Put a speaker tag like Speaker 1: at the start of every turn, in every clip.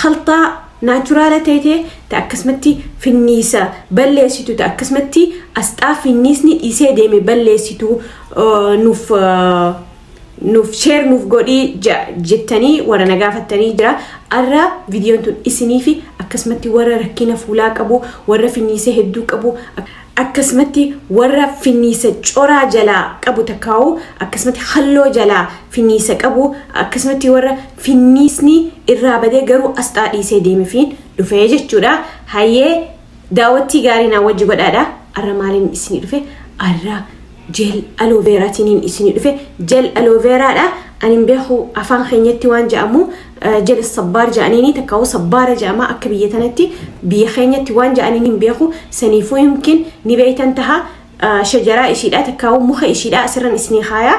Speaker 1: khalxaa naachuraala teete ta akkasumatti finniisa balleessitu ta akkasumatti asxaa finniisni dhiisee deeme balleessitu nuuf nuuf sheer nuuf godhii jettanii warra na gaafattanii jira arra viidiyoon tun isiniifi akkasumatti warra rakkina fuulaa qabu warra finniisa hedduu qabu akkasumatti warra finniisa coraa jalaa qabu takkaawu akkasumatti halloo jalaa finniisa qabu akkasumatti warra finniisni irraa badee garuu asxaa dhiisee deemefiin dhufee jechuudha. Hayyee daawwattii gaarii naa wajji godhaadha. Arra maaliin isinii dhufe arra Gel aloe vera tinin isini dhufe gel aloe vera dha anin beeku afaan keenyatti waan ja'amu gel sabbaar ja'aniini takkaa'u sabbaara ja'ama akka biyya tanatti biyya keenyatti waan ja'aniin hin beeku saniifuu yumkin ni beeytan taha shajaraa ishiidha takkaa'u muka ishiidha asirran isni kaayaa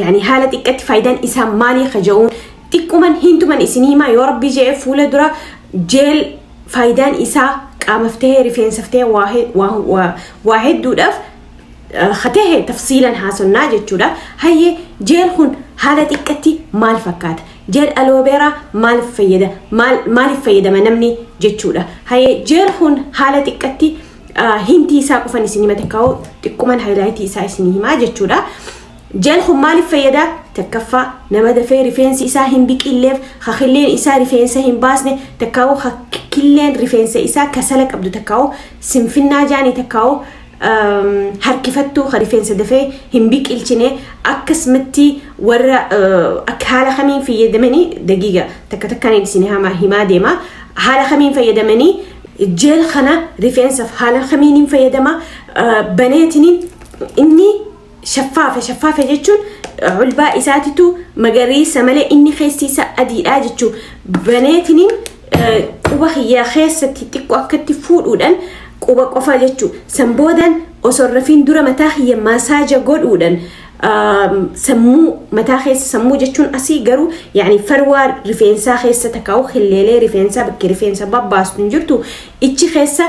Speaker 1: yani haala xiqqatti faayidaan isaa maalii kaja'uun xiqquman hintuman isin himaa yoo rabbii je'e fuula dura jeel faayidaan isaa qaamaf tahee rifeensaf tahee waa he- waa- waa- waa hedduudhaaf katahe tafsiilan haasonnaa jechuudha hayye jeel kun haala xiqqatti maal fakkaata jeel aloobeeraa maaliif fayyada maal- maaliif fayyadama namni jechuudha hayye jeel kun haala xiqqatti ah, hintii isaa qofan isin hima takkaa'u xiqquman haayilaayitii isaa isin himaa jechuudha Jel kun maaliif fayyada? Takkaffaa, nama dafee rifeensi isaa hin biqilleef, ha killeen isaa rifeensa hin baasne, takkaa'u ha killeen rifeensa isaa kasala qabdu takkaa'u sinfinnaa jaanii takkaa'u um, harkifattuu ha rifeensa dafee hin biqilchine akkasumatti warra uh, akka haala kamiin fayyadamanii dagiiga takka takkaan isin hamaa himaa deema haala kamiin fayyadamanii jeel kana rifeensaaf haala kamiin hin fayyadama uh, baneetiniin inni Shaffaafa shaffaafa jechuun ulbaa isaatitu magariisa malee inni keessi isaa adiidha jechuun baneetiniin quba kiyyaa keessatti xiqqoo akkatti fuudhuudhaan quba qofa jechuun san boodaan osoo rafiin dura mataa kiyya maasaaja godhuudhaan sammuu mataa keessa sammuu jechuun asii garuu yaani farwaa rifeensaa keessa takkaa'u hilleelee rifeensaa bakki rifeensa babbaastu hin jirtu ichi keessa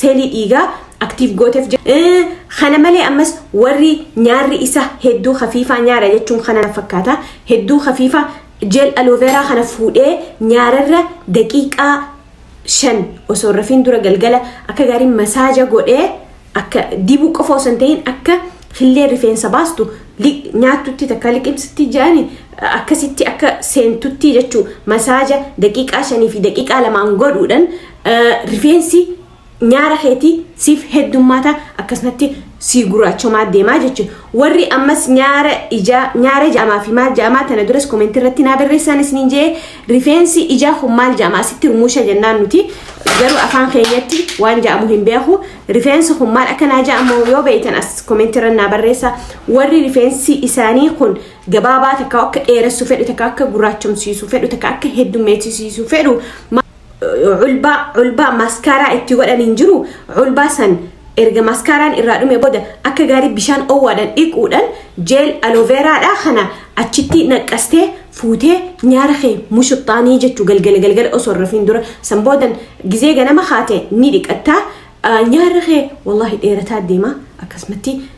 Speaker 1: seelii dhiigaa aktiif gooteef kana malee ammas warri nyaarri isa hedduu hafiifaa nyaara jechuun kana fakkaata hedduu hafiifaa jeel alooveeraa kana fuudhee nyaararra daqiiqaa shan osoo rafiin dura galgala akka gaarii masaaja godhee akka dibuu qofa osoo hin ta'in akka hillee rifeensa baastu nyaattutti takka liqimsitti jedhani akkasitti akka seentutti jechuu masaaja daqiiqaa shanii fi daqiiqaa lamaan godhuudhan rifeensi nyaara keetii siif heddummaata akkasumatti sii guraachomaa deemaa jechuudha. Warri ammas nyaara ijaa nyaara jaamaa fi maal jaamaa tana duras koomentii irratti naa barreessaan isiniin jee rifeensi ijaa kun maal jaamaa sitti rumuusha jennaan nuti garuu afaan keenyatti waan jaamu hin beeku rifeensi kun maal akka naa jaamu yoo beektan as koomentii irra naa barreessa warri rifeensi isaanii kun gabaabaa takka akka dheeressu fedhu takka akka guraachomsiisu fedhu takka akka heddummeessisiisu fedhu culbaa culbaa maaskaaraa itti godhan hin jiru culbaa san erga maaskaaraan irraa dhume booda akka gaarii bishaan owwaadhaan dhiquudhaan jeel alooveeraadhaa kana achitti naqqastee fuutee nyaara kee mushuxxaanii jechuu galgala galgala osoo hin rafiin dura san boodan gizee ganama kaate ni dhiqattaa nyaarri kee wallaahi dheerataa deema akkasumatti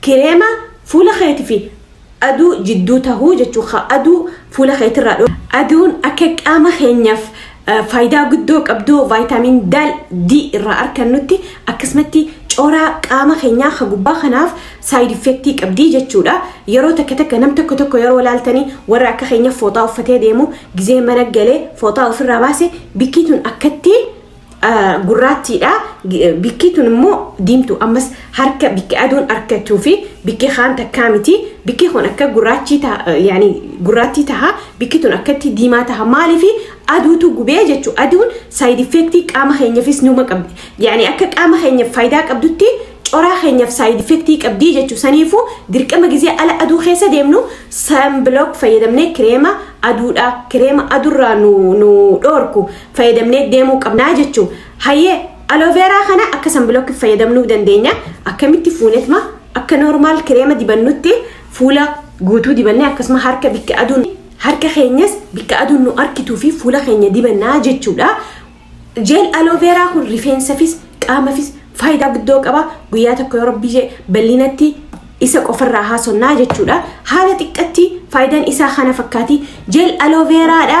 Speaker 1: Kireema fuula keeti fi aduu jidduu tahu jechuun ka aduu fuula keeti irraa dhoorku. Aduun akka qaama keenyaaf faayidaa guddoo qabdu vaayitaamiin D irraa arkannutti akkasumatti coraa qaama keenyaa ka gubbaa kanaaf saayid effektii qabdi jechuudha. Yeroo takka takka nam tokko tokko yeroo laaltanii warra akka keenya fooxaa uffatee deemu gizee mana galee fooxaa ofirraa baase bikkii tun akkatti gurraattiidha. Bikki tun immoo diimtu ammas harka bikki aduun harkachuu fi bikki kaan takkaa miti. Bikki kun akka gurraachii taha yaani gurraattii taha bikki tun akkatti diimaa taha maaliif aduutu gubee jechuu aduun saayid effeektii qaama keenyafis numa qabdi. Yaani akka qaama keenyaf faayidaa qabdutti coraa keenyaf saayid effeektii qabdii jechuu saniifuu dirqama gizee ala aduu keessa deemnu sanbilook fayyadamnee kireema aduudha kireema adurraa nu dhoorku. fayyadamnee deemuu qabnaa jechuu hayyee alooveeraa kana akka sanbilookki fayyadamnuu dandeenya akkamitti fuunetma akka noormaal kireema dibannutti fuula guutuu dibannee akkasuma harka bikka aduun harka keenyas bikka aduun nu arkituu fi fuula keenya dibannaa jechuudha jeel alooveeraa kun rifeensafis qaamafis faayidaa guddoo qaba guyyaa tokko yoo rabbii jee bal'inatti isa qofarraa haasonnaa jechuudha haala xiqqatti faayidaan isaa kana fakkaati jeel alooveeraadha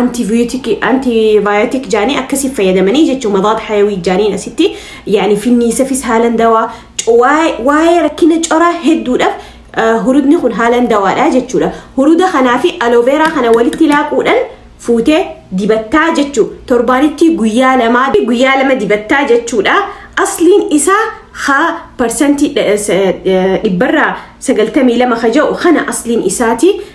Speaker 1: antibiyootikii antibiyootik jaanii akkasii fayyadamanii jechuun madaad hayawii jaaniin asitti yaani finniisafis haalan dawaa waa'ee rakkina coraa hedduudhaaf hurudni kun haalan dawaadha jechuudha. Huruda kanaa fi alooveeraa kana walitti laaquudhaan fuutee dibattaa jechuu torbaanitti guyyaa lamaa guyyaa lama dibattaa jechuudha. Asliin isaa haa parsantii dhibbarraa sagaltamii lama ka ja'u kana asliin isaati.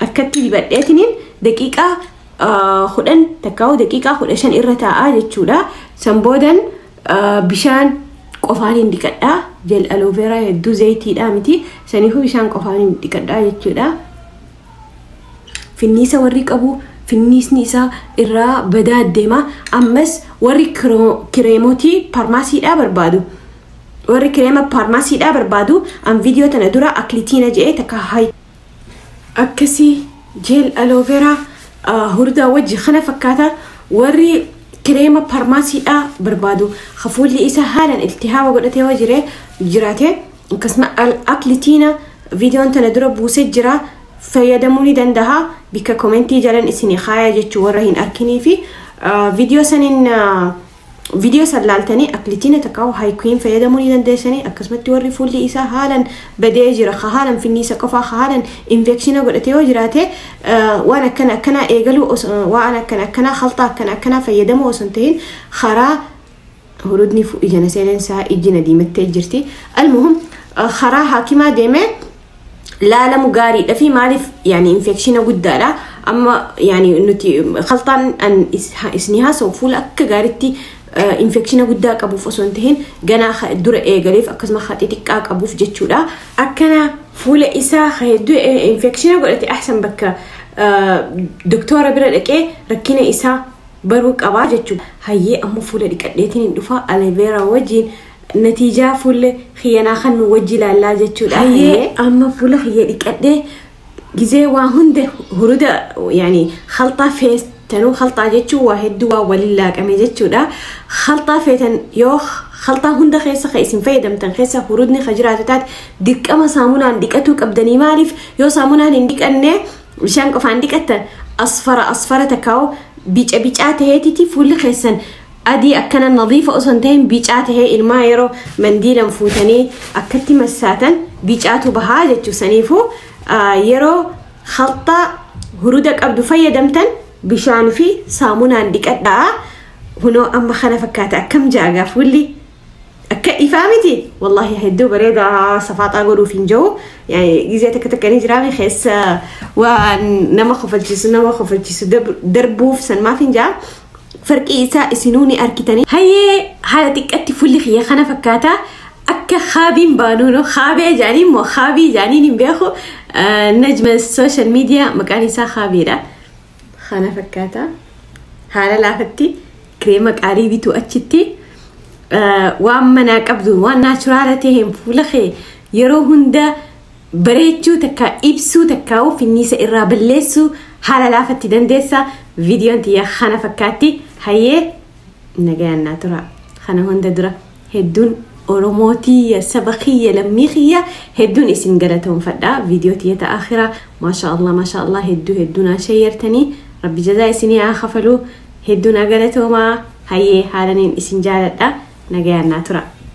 Speaker 1: Harkatti dibadheetiniin daqiiqaa kudhan takkaa'u daqiiqaa kudha shan irra taa'aa jechuudha. San boodan bishaan qofaan hin dhiqadhaa. Jel alooveeraa hedduu zayitiidhaa miti. Saniifuu bishaan qofaan hin dhiqadhaa jechuudha. Finniisa warri qabu finniisni isaa irraa badaa deema. Ammas warri kireemotii faarmaasiidhaa barbaadu. Warri kireema faarmaasiidhaa barbaadu an viidiyoo tana dura aklitiina jedhee takka akkasii jeel alooveraa hurdaa wajji kana fakkaata warri kireema parmaasiidhaa barbaadu hafuulli isa haalan iltihaaba godhatee yoo jire jiraate akkasuma aklitiina viidiyoon tana dura buuse jira fayyadamuu ni dandaha bikka komentii jalan isin kaaya jechuu warra hin arkinii fi viidiyoo saniin Video san laaltanii aklitina takaahu haikuin fayyadamuu ni dandeessanii akkasumatti warri fuulli isaa haalan badee jira ka haalan finniisa qofaa ka haalan infekshina godhate yoo jiraate waan akkana akkanaa eegaluu waan akkana akkanaa haltaa akkana akkanaa fayyadamuu osoo hin tahin karaa hurudni ijana seeneen isaa ijjina diimattee jirti almuhum karaa haakimaa deemee laalamu gaariidha fi maaliif yaani infekshina guddaadha amma yaani nuti kaltaan an is- ha- isinii haasa'u fuula akka gaaritti infekshina guddaa qabuuf osoo hin tahin ganaa ha- dura eegaleef akkasuma ha xixiqqaa qabuuf jechuudha akkana fuula isaa ha hedduu e- infekshina godhate ahsan bakka ah, doktoora bira dhaqee rakkina isaa baruu qabaa jechuudha hayyee amma fuula dhiqadheetiin hin dhufaa aleveera wajjiin Natiijaa fuullee kiyyanaa kan nu wajji ilaallaa jechuudha. Hayyee amma fuula kiyya dhiqadhee gizee waa hunda huruda yaani halxaa feetanuu halxaa jechuun waa hedduu waa waliin laaqame jechuudha. Halxaa feetan yoo halxaa hunda keessa kan isin fayyadamtan keessa hurudni kan jiraatu taate dirqama saamunaan dhiqatuu qabdanii maaliif yoo saamunaan hin dhiqanne bishaan qofaan dhiqattan asfara asfara takkaa'u bica bicaa ta'eetiti fuulli keessan Adii akkana nadiifa osoo hin ta'in bicaa ta'ee ilmaa yeroo mandiilan fuutanii akkatti massaatan bicaatu bahaa jechuu saniifuu yeroo khalxaa huruda qabdu fayyadamtan bishaan fi saamunaan dhiqadhaa hunoo amma kana fakkaata akkam jaagaa fuulli Akka ifaa miti wallahi hedduu bareeda safaaxaa godhuuf hin jiru. Gizee takka takka ni jiraame keessa waan nama kofalchiisu nama kofalchiisu darbuuf san maaf hin jaa. Farqii isaa isinuu ni arkitanii. Hayyee haala xiqqatti fulli kiyya kana fakkaata. Akka haabiin baanuunoo haabee jaanii immoo haabii jaaniin hin beeku. Najma social media maqaan isaa haabiidha. Kana fakkaata. Haala laafatti kireema qaalii bituu achitti eh, waan manaa qabdu waan naachuraala ta'een fuula kee yeroo hunda bareechuu takka ibsuu takka finniisa irraa balleessuu haala laafatti dandeessa. Viidiyoon tiyya kana fakkaatti. Hayyee nagayaan naa tura. Kana hunda dura Heddun oromoo tiyya saba kiyya lammii kiyya heddun isin galatoomfadha video tiyya ta akhiraa masha allah masha allah heddu heddu naa shayyartani rabbi jazaa isinii haa kafaluu heddu naa galatoomaa hayyee haalanin isin jaaladha nagayaan naa tura.